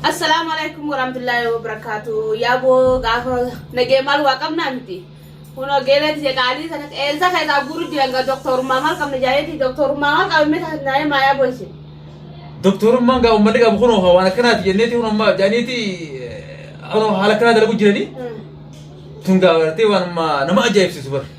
Assalaamu alaikum warahmatullahi wabarakatuh. Yaaboo gaafa nagee maal waa qabnaa miti. Kun ogeelee tiyya qaalii sana eessa keessaa guuru jiran gaa doktorummaa maal qabna jaayeeti doktorummaa maal qabna mee taasisan jaayee maa yaaboo isin. Doktorummaan gaa uummanni qabu kunoo waan akkanaati jenneeti kun amma jaaniiti haala akkanaa dalagu jiranii tun gaa gartee waan amma nama ajaa'ibsiisu bara.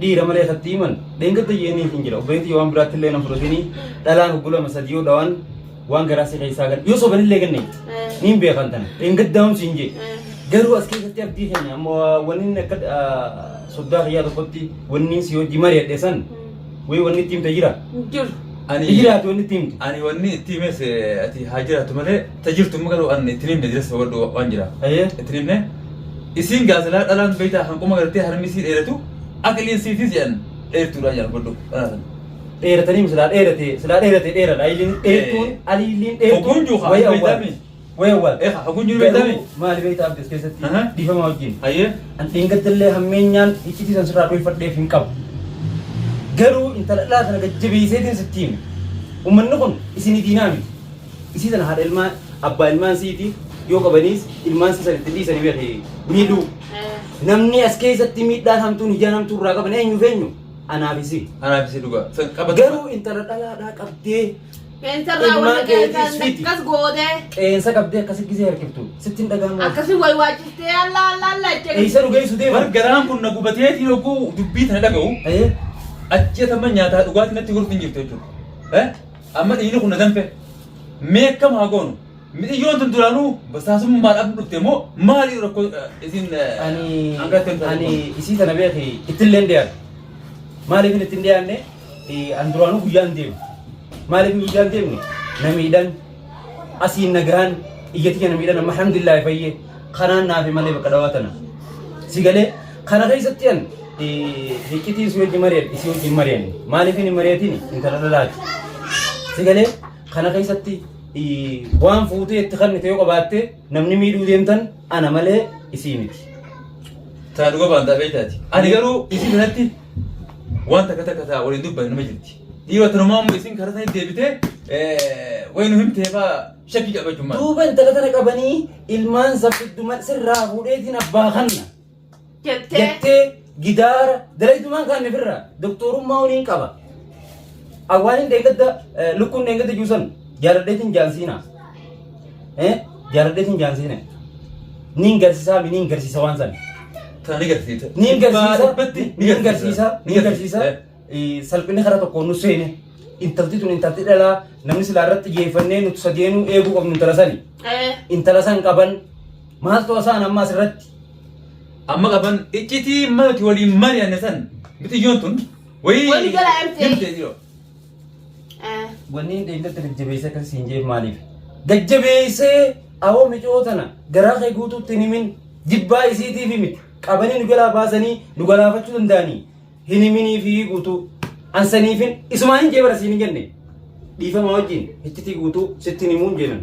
Dhiira malee katti himan dheengadda jeeniif hin jira obboleetti yoo waan biraatti illee na fudhatini dhalaan hoggulama sadii yoo dhawaan waan garaa si keessaa gan yoo soban illee ganne niin beekan tana dheengadda hamsi hin jee garuu as keessatti abdii keenya amma wanni akka soddaa kiyyaa tokkotti wanni si hojii mari'adhe san wayii wanni itti himte jira. Jiru. Ani Jiraatu wanni itti himte. ani wanni itti himes ati haa jiraatu malee ta jirtu amma garuu an ittiin himne jiras hubadhu waan jira Hayyee. ittiin himne isiin gaasilaa dhalaan beeytaa hanquma gartee harmi isii dheeratu aqliin siitis jedhan dheertuudha jedhan hubadhu dhalaa sana dheeratanii mi silaa dheerate silaa dheerate dheeradha ayiliin dheertuun Eh. aliiliin dheertuun Hogunjuu kaa, wayii awwaal beeytaami. wayii awwaal Eh, hogunjuu Garuu beeytaami. maali beeytaa abdi as keessatti Aha. dhiifama wajjin hayyee an dheengadallee hammeenyaan iccitii san sirraa dhoofadheef hin qabu garuu intala dhalaa sana gajjabeeyseetiin sitti hime ummanni kun isinii diinaa miti Isii tana haadha ilmaa abbaa ilmaan siiti yoo qabaniis ilmaan sii san itti dhiisanii beeki miidhuu. Namni as keessatti miidhaan hamtuun ijaan hamtuu irraa qaban eenyu feenyu anaaf isii. Anaaf isii dhugaa. San qabatu. Garuu intala dhalaadhaa qabdee Qeensarraa Ilmaan wanta keetis qeensaan fidi. akkas gootee qeensa qabdee akkasi gisee harkiftu sitti hin dhaga'amu. akkasii wayi waachistee alla alla alla jedhe. Eessa nu geessu deema? Bar garaan kun na gubateetiin oguu dubbii tana dhaga'u. Eh? Ajjeetama nyaataa dhugaatii natti gortu hin jirtu jechuudha. Eh? Amma dhiirri kun na danfe. Mee akkam haa goonu? Midhiyyoon tun duraanuu basaasummaadhaaf dhufte moo maali rakkoo eh, isin eh, ani hanga ittiin taasifamu? ani isii tana beeki ittillee hin dhiyaanne maaliif itti hin dhiyaanne Eh, an duraanuu guyyaan deemu maaliif guyyaan deemne na miidhan asiin nagaan iyyatti kana miidhan amma alhamdulillah fayyee kanaan naafi malee bakka dhawaa tana si galee Kana keessatti an hiccitiin si wajjin mari'adhe isii wajjin mari'anne maaliif hin mari'atiin intala dhalaati. Si galee kana keessatti waan fuutee itti kannite yoo qabaatte namni miidhuu deemtan ana malee isii miti. Taa dhuga baan dhaabee taati. Ani garuu isii kanatti waan takka takka taa waliin dubbanne nama jirti. Dhiirota namaa immoo isin karaa isaanii deebitee wayii nu himtee faa shakkii qabachuun maal? Duuba intala tana qabanii ilmaan sabbidduman sirraa fuudheetiin abbaa kanna. jettee jettee gidaara dalaytumaan kaanne firra doktorummaa waliin qaba. Awwaaniin deeggadda lukkuun deeggadda juusan jaaladheetiin jaansiina. Eh jaaladheetiin jaansiina. Niin garsiisaa mi niin garsiisa waan sana. Tana ni garsiisa. Niin garsiisa Dhibbatti niin garsiisa niin garsiisa Eh. eh, salphinni karaa tokkoon nu seene. Intalti tun intalti dhalaa namni silaa irratti xiyyeeffannee nuti sadeenu eeguu qabnu intala sani. eh, Intala san qaban Maaltu asaan ammaa asirratti? Amma qaban iccitii mati waliin mari'anne san bitiyyoon tun wayii Wali gala MT. himte jiroo. Eh, Wanni hin dheeynatti gajjabeessee akkas siin jeef maaliif? Gajjabeessee awoo micoo tana garaa kee guutuutti hin himin jibbaa isiitiif himi qabanii nu jalaa baasanii nu galaafachuu danda'anii hin himinii fi guutuu an saniifin isumaan hin jee bara siin hin jenne dhiifama wajjin hiccitii guutuu sitti hin himuun jeenan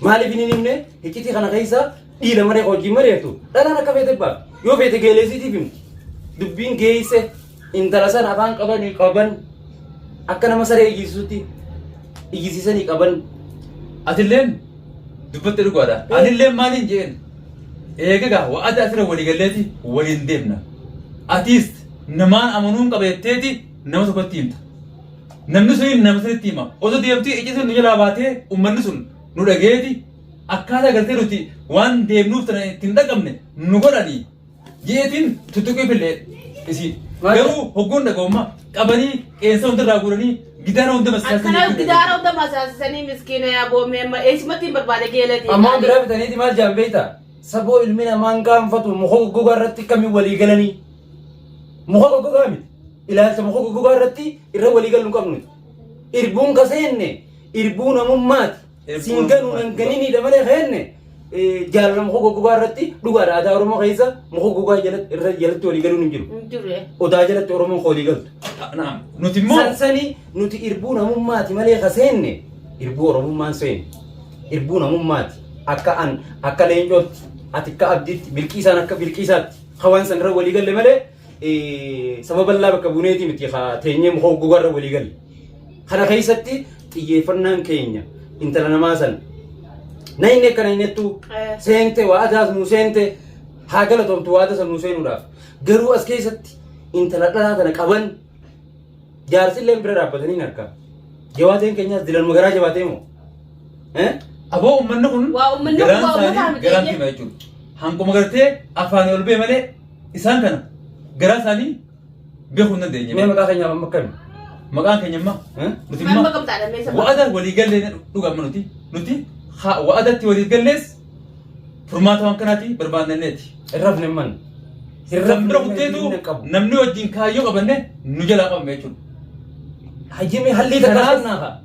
maaliif hin himne hiccitii kana keessa dhiira maree wajjin mareertu dhalaan akka feete baa yoo feete geeleesiitiif himu dubbiin geesse intala sana afaan qabanii qaban akka nama saree iyyisuutti iyyisiisanii qaban Atilleen dubbatte dhugaadha. Anillee maaliin jeen eegagaa wa'ada asirra walii galleeti waliin deemna. Atiis namaan amanuun qabeetteeti nama tokkotti himta. Namni sun nama sanitti hima. Osoo deemtee icci sun nu jalaa baatee uummanni sun nu dhageeti akkaataa galtee nuti waan deemnuuf tana ittiin dhaqabne nu godhanii Yeetiin tuttuqee fillee isiin. Garuu hoggoon dhaga'ummaa qabanii qeensa hunda irraa guuranii gidaara hunda Akkana masaasanii. gidaara hunda masaasisanii miskiina yaa boommee amma eessumatti hin barbaade geelati. Ammoo biraa bitaniiti maal jaan beekta? Saboo ilmi namaa hin qaanfatu muka goggogaa irratti kamiin walii galanii? Muka goggogaa miti. Ilaalcha muka goggogaa irratti irra walii galuu hin qabnu. Irbuun kaseenne irbuu namummaati. siin ganuu nan ganinii dha malee keenne jaalala muka goggogaa irratti dhugaadha aadaa Oromoo keessa muka goggogaa jalatti irra jalatti walii galuun hin jiru. hin jiru eh. Odaa jalatti Oromoon koolii galtu. Naam. Nuti immoo Sansani nuti irbuu namummaati malee ka seenne irbuu Oromummaan seenne irbuu namummaati akka an akka leencootti ati akka abdiitti bilqiisaan akka bilqiisaatti ka waan san irra walii galle malee eh, saba bal'aa bakka buuneeti miti ka teenyee muka goggogaa irra walii galle. Kana keessatti xiyyeeffannaan keenya intala namaa san na hin akka na hin ettu Eh. seente waa adaas nu seente haa galatomtu waa adasa nu seenuudhaaf garuu as keessatti intala dhalaa tana qaban jaarsilleen bira dhaabbatanii hin arkaa jawaateen keenyaas dilanuma garaa jabaatee moo Eh? Aboo uummanni kun Waa uummanni kun garaan waa uummataa isaanii miti garaan jennee. kima jechuudha. Hanguma gartee afaanii ol ba'e malee isaan kana garaa isaanii beekuu hin dandeenye. Mee maqaa keenyaaf amma akkami? Maqaan keenya amma Eh? nuti Kan amma bakka bitaadha mee sababa. wa'ada walii gallee dhugaama nuti nuti ha- wa'adatti walii gallees furmaata waan kanaati barbaanneeti. Hin rafne man. Hin Kan bira kutteetu hin qabu. namni wajjin kaayyoo qabanne nu jalaa qabame jechuudha. Hayyamee hallii takka Kanaaf- kennaa kaa.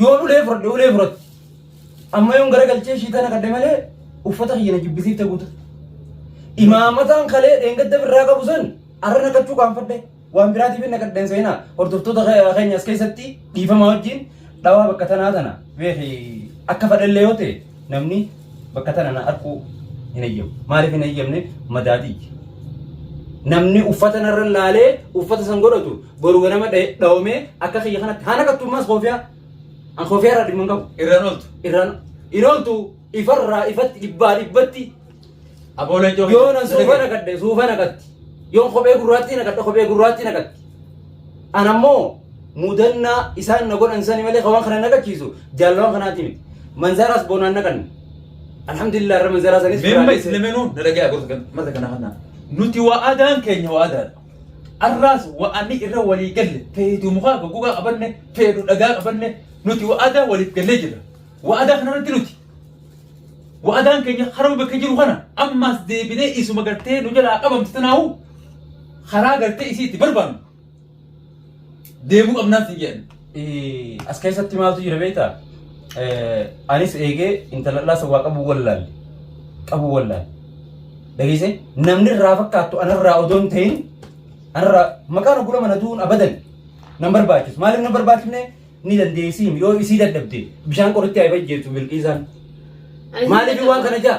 Yoon ulee fudhadhe ulee fudhatti. Amma yoon gara galchee ishii tana kadhe malee uffata kiyya na jibbisiifte guuta. Imaamataan kalee dheengadda birraa qabu san arra naqachuu qaanfadhe. Waan biraatiif na kadheen seenaa hordoftoota ke- keenya as keessatti dhiifama wajjin dhawaa bakka tanaa tana beeki akka fadhallee yoo ta'e namni bakka tana na arkuu hin eeyyamu. Maaliif hin eeyyamne madaadii. Namni uffata narra laalee uffata san godhatu Boru ganama dha- dhawamee akka kiyya kanatti haa naqattu ammaas koofiyaa. An koofiyaa irraa dhimma hin qabu. Irraan ooltu. Irraan hin ooltu ifarraa ifatti dhibbaa dhibbatti Aboo leencoo. yoo nan suufa naqadhe suufa naqatti. Yoo kophee gurraattii naqadhe kophee gurraattii naqatti. An ammoo mudannaa isaan na godhan sani malee kan waan kana naqachiisu jaalawwan kanaati miti. Manzaraas boonaan naqanne. Alhamdulillah irra manzaraa sanis Memma biraanis- islaminuu na dhagaya gorsa kan mata kana kana. Nuti waa adaan keenya waa adaadha. Arraas wa'anni irra walii galle feetu mukaa goggogaa qabanne feetu dhagaa qabanne nuti wa'adaa waliif gallee jirra. Wa'adaa kanarratti nuti wa'adaan keenya harma bakka jiru kana ammaas deebinee isuma gartee nu jalaa qabamtu tanaahu karaa gartee isii itti barbaannu. deemuu qabnaan sin jedhan. As keessatti maaltu jira beektaa? Anis eegee intalallaa san waa qabuu wallaalle. Qabuu wallaalle. Dhageessee namni irraa fakkaattu anarraa odoo hin ta'in anarraa maqaan oggula mana du'uun abadan nan barbaachisu. Maaliif nan barbaachifne ni dandeessiim yoo isii dadhabde bishaan qoritti haa ifajjeessu bilqiisaan. Maaliif waan kana jaa?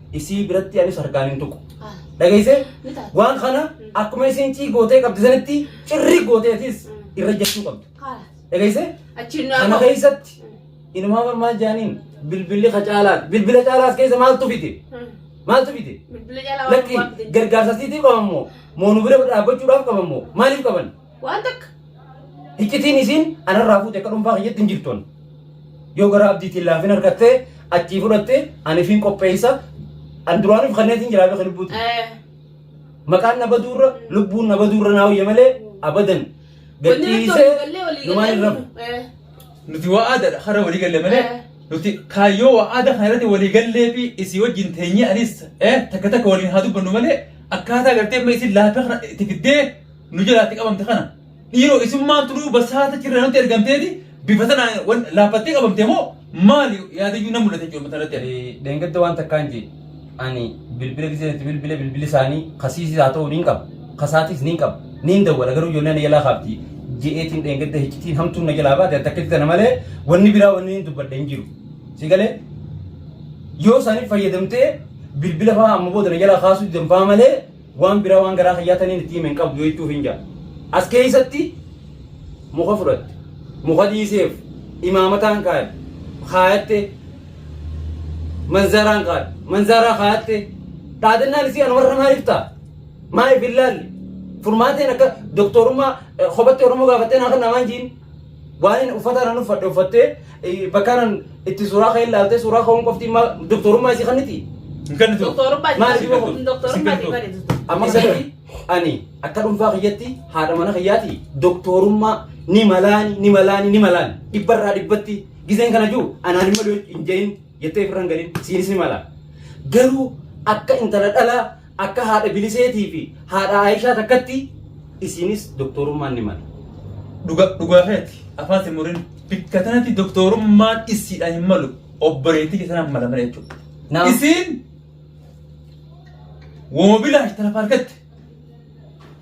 isii biratti anis harkaan hin tuqu. Dhageessee waan kana akkuma isiin cii gootee qabdi sanitti cirri gootee atis irra jechuu qabdu. Dhageessee kana keessatti inumaa marmaa jaaniin bilbilli ka caalaa bilbila caalaas keessa maaltu fite maaltu fite lakki gargaarsa siitii qabammoo moonu bira dhaabbachuudhaaf qabammoo maaliif qaban. Waan takka. Hiccitiin isiin anarraa fuute akka dhuunfaa kiyyatti hin jirtu. Yoo gara abdiitiin laafin harkattee achii fudhatte anifiin qopheessa an duraaniif kanneetiin jiraa beeka lubbuuti. Eh, Maqaan na baduurra lubbuun na baduurra naa hoyya malee abadan Wanni nutti gadhiisee walii gallee walii numaan hin gallee. rafu. Eh, Nuti waa aadaadha har'a walii galle malee Eh. nuti kaayyoo waa aadaa kana irratti walii gallee fi isii wajjin teenyee anis eh, takka takka waliin haa dubbannu malee akkaataa gartee amma isin laafee kana itti fiddee nu jalaatti qabamte kana dhiiroo isummaan turuu basaata cirra nutti ergamteeti bifa sana wan- laaffattee qabamte moo maali yaadayyuu nan mul'ate jechuudha matarratti ani. Deengadda waan takkaan jee ani bilbila gisee itti bilbila bilbili isaanii kasiisis haa ta'u niin qaba kasaatis niin qaba niin dawwala garuu ijoolleen na jalaa kaafti je'eetiin deengadda hiccitiin hamtuun na jalaa baate takkitti tana malee wanni biraa wanni niin dubbadhe hin jiru si galee yoo isaaniif fayyadamtee bilbila fa'aa amma booda na jalaa kaasuu didan fa'aa malee Waan biraa waan garaa kiyyaa taniin itti hime hin qabdu jechuufiin jira. As keessatti muka fudhatte, muka dhiiseef, imaamataan kaa'e, kaayatte, manzaraan kaa'e, manzaraa kaayatte, dhaadannaan isii anumarra maaliif ta'a? Maaliif hin laalle? Furmaateen akka doktorummaa eh, kophaatti Oromoo gaafattee naa kan namaan jiin Waa'een uffata anan uffadhe uffattee eh, bakka anan itti suuraa ka'e ilaaltee suuraa ka'uun qofti ma- doktorummaa isii kanniti. Hin kennitu. Doktorummaa Maal isin godhu? doktorummaa isin godhu. Amma isatti ani akka dhuunfaa kiyyatti haadha mana kiyyaati doktorummaa ni malaani ni malaani ni malaani dhibbarraa dhibbatti gizeen kana jiru anaan hin malu hin jedhin jettee firran galin siinis ni mala. Garuu akka intala dhalaa Akka haadha Biliseetii fi haadha Aayishaa takkatti isiinis doktorummaan ni mala. Dhuga- dhugaa keeti afaan si murin bikka tanatti doktorummaan isiidhaan hin malu obboleettii keessanaan mala mala jechuudha. Naam. Isiin wooma bilaash tana faargatte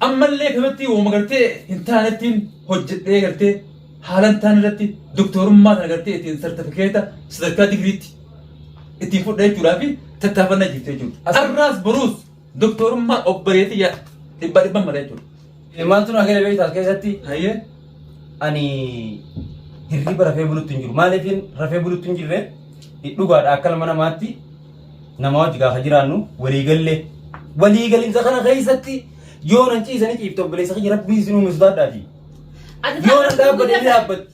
ammallee kanatti wooma gartee hin taanettiin hojjedhee gartee haalan taan irratti doktorummaa tana gartee ittiin sartifikeeta sadarkaa digiriitti ittiin fudhee jechuudhaa fi tattaafannaa jirti jechuudha. Har'aas boruus doktorummaa obboleetii yaa dhibba dhibba mala jechuudha. Maaltu naa gale beektaa as keessatti Hayyee. ani hirriba rafee bulutti hin jiru. Maaliif rafee bulutti hin jirre dhugaadha akka ilma namaatti nama wajji gaafa jiraannu waliigallee. Waliigalinsa kana keessatti yoo nan ciisanii ciifte obboleessa kiyya rabbii isin uume sodaadhaati. Yoo nan dhaabbate ni dhaabbatti.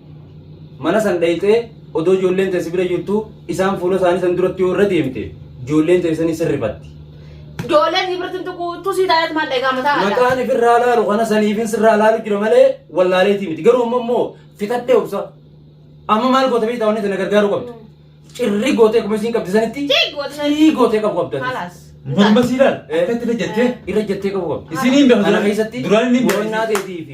Mana san dhayxee odoo ijoolleen tee si bira jirtuu isaan fuula isaanii san duratti yoo irra deemte ijoolleen tee sanii sirrifatti. Ijoolleen si birtin tuquu utuu sii taa'eet maal dhagaa mataa haadha. Mataan ifirraa laalu kana saniifin sirraa laalu jira malee wallaaleetii miti. Garuu amma immoo fixadhee obsa. Amma maal goota beektaa wanni sana gargaaruu qabdu. Cirri gootee akkuma isiin qabdi sanitti Ciig gootee sanitti. cirii gootee qabu qabdu. ati. Kalaas. Morma siidaan Eh. akkatti irra jettee Irra jettee qabu qabdu. Isiniin beeku Kana duraan- keessatti duraan inni beeku. boonnaa keetii fi